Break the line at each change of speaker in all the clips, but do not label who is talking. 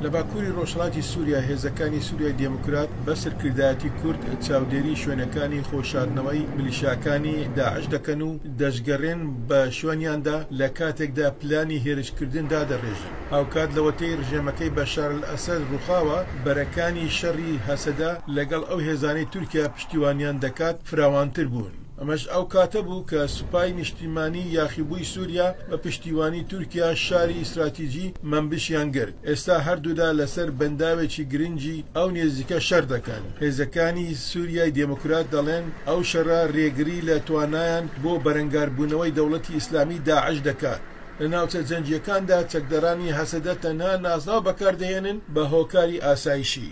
لە باکووری ڕۆژهەڵاتی سووریا، هێزەکانی سووریای دێموکرات بە سەرکردایەتی کورد چاودێری شوێنەکانی خۆشاردنەوەی میلیشیاکانی داعش دەکەن و دەشگەڕێن بە شوێنیاندا، لە کاتێکدا پلانی هێرشکردن دادەڕێژن. هاوکات لەوەتەی ڕژێمەکەی بەشار ئەلئەسەد ڕووخاوە، بەرەکانی شەڕی هەسەدە لەگەڵ ئەو هێزانەی تورکیا پشتیوانیان دەکات فراوانتر بوون. ئەمەش ئەو کاتە بوو کە سوپای نیشتیمانیی یاخیبووی سووریا بە پشتیوانی تورکیا شاری ئیستراتیجی مەنبشیان گرت، ئێستا هەردوولا لەسەر بەنداوێکی گرنگی ئەو نێزیکە شەر دەکەن. هێزەکانی سووریای دێموکرات دەڵێن، ئەو شەرە رێگری لە توانایان بۆ بەرەنگاربوونەوەی دەوڵەتی ئیسلامیی داعش دەکات. لە ناوچە جەنگییەکاندا چەکدارانی هەسەدە تەنها نازناو بەکار دەهێنن بە هۆکاری ئاسایشی.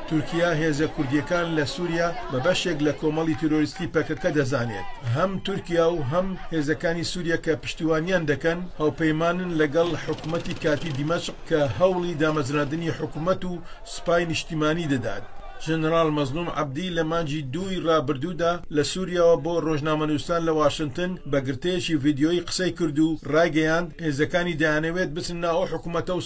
تورکیا هێزە کوردییەکان لە سووریا بە بەشێک لە کۆمەڵی تیرۆریستی پەکەکە دەزانێت. هەم تورکیا و هەم هێزەکانی سووریا کە پشتیوانیان دەکەن، هاوپەیمانن لەگەڵ حکومەتی کاتیی دیمەشق کە هەوڵی دامەزراندنی حکومەت و سوپای نیشتیمانی دەدات. ژەنەراڵ مەزڵووم عەبدی لە مانگی دووی رابردوودا لە سووریاوە بۆ رۆژنامەنووسان لە واشنتن بە گرتەیەکی ڤیدیۆیی قسەی کرد و رایگەیاند، هێزەکانی دەیانەوێت بچنە ناو ئەو حکومەتە و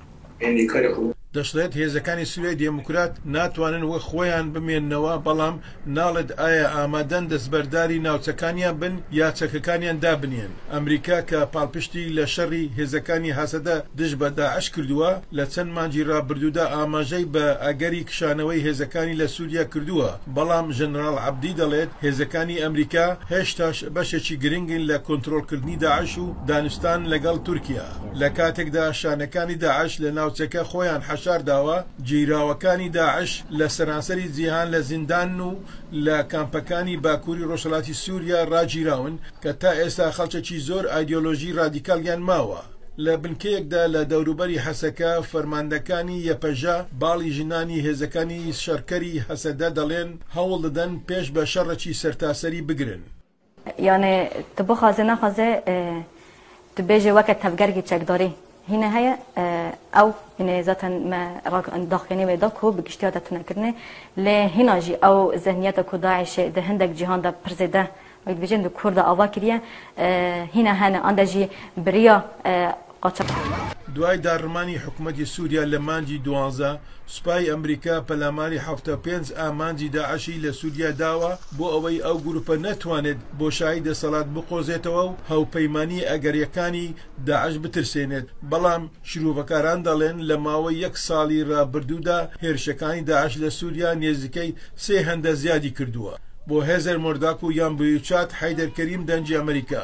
دەشڵێت هێزەکانی
سوریای دێموکرات ناتوانن وەک خۆیان بمێننەوە، بەڵام ناڵێت ئایا ئامادەن دەستبەرداری ناوچەکانیان بن یا چەکەکانیان دابنێن. ئەمریکا کە پاڵپشتی لە شەڕی هێزەکانی هەسەدە دژ بە داعش کردووە، لە چەند مانگی رابردوودا ئاماژەی بە ئەگەری کشانەوەی هێزەکانی لە سوریا کردووە، بەڵام ژەنراڵ عەبدی دەڵێت هێزەکانی ئەمریکا هێشتاش بەشێکی گرنگن لە کۆنترۆڵکردنی داعش و دانوستان لەگەڵ تورکیا. لە کاتێکدا شانەکانی داعش لە ناوچەکە خۆیان حەشار داوە، گیراوەکانی داعش لە سەرانسەری جیهان لە زیندان و لە کامپەکانی باکووری ڕۆژهەڵاتی سووریا ڕاگیراون کە تا ئێستا خەڵکەکی زۆر ئایدیۆلۆژی ڕادیکاڵیان ماوە. لە بنکەیەکدا لە دەوروبەری حەسەکە، فەرماندەکانی یەپەژە باڵی ژنانی هێزەکانی شەڕکەری هەسەدە دەڵێن، هەوڵ دەدەن پێش بە شەڕێکی سەرتاسەری بگرن. یانێ
تو بخوازێ نەخوازێ تو بێژێ وەکە تەڤگەرگی چەکداری هینە هەیە ئەو هینێ زاتەن مە داخوێنێ وێ دا کو بگشتیا دەتونە کردنێ لێ هینا ژی ئەو زەهنیەتە کو داعشێ دە هەندێک جیهان دا پر زێدە وەک دبێژێن دو کوردا ئاوا کریە هینە هەنە ئەندە ژی بریا قەتەر. دوای
داڕمانی حکومەتی سوریا لە مانگی دوازدە، سوپای ئەمریکا پەلاماری حەفتا و پێنج ئامانجی داعشی لە سوریا داوە بۆ ئەوەی ئەو گروپە نەتوانێت بۆشایی دەسەڵات بقۆزێتەوە و هاوپەیمانییە ئەگەرییەکانی داعش بترسێنێت، بەڵام شرۆڤەکاران دەڵێن لە ماوەی یەک ساڵی رابردوودا هێرشەکانی داعش لە سوریا نێزیکەی سێ هەندە زیادی کردووە. بۆ هێزەر مۆرداک و یان بویوچات حەیدەر کەریم دەنگی ئەمریکا.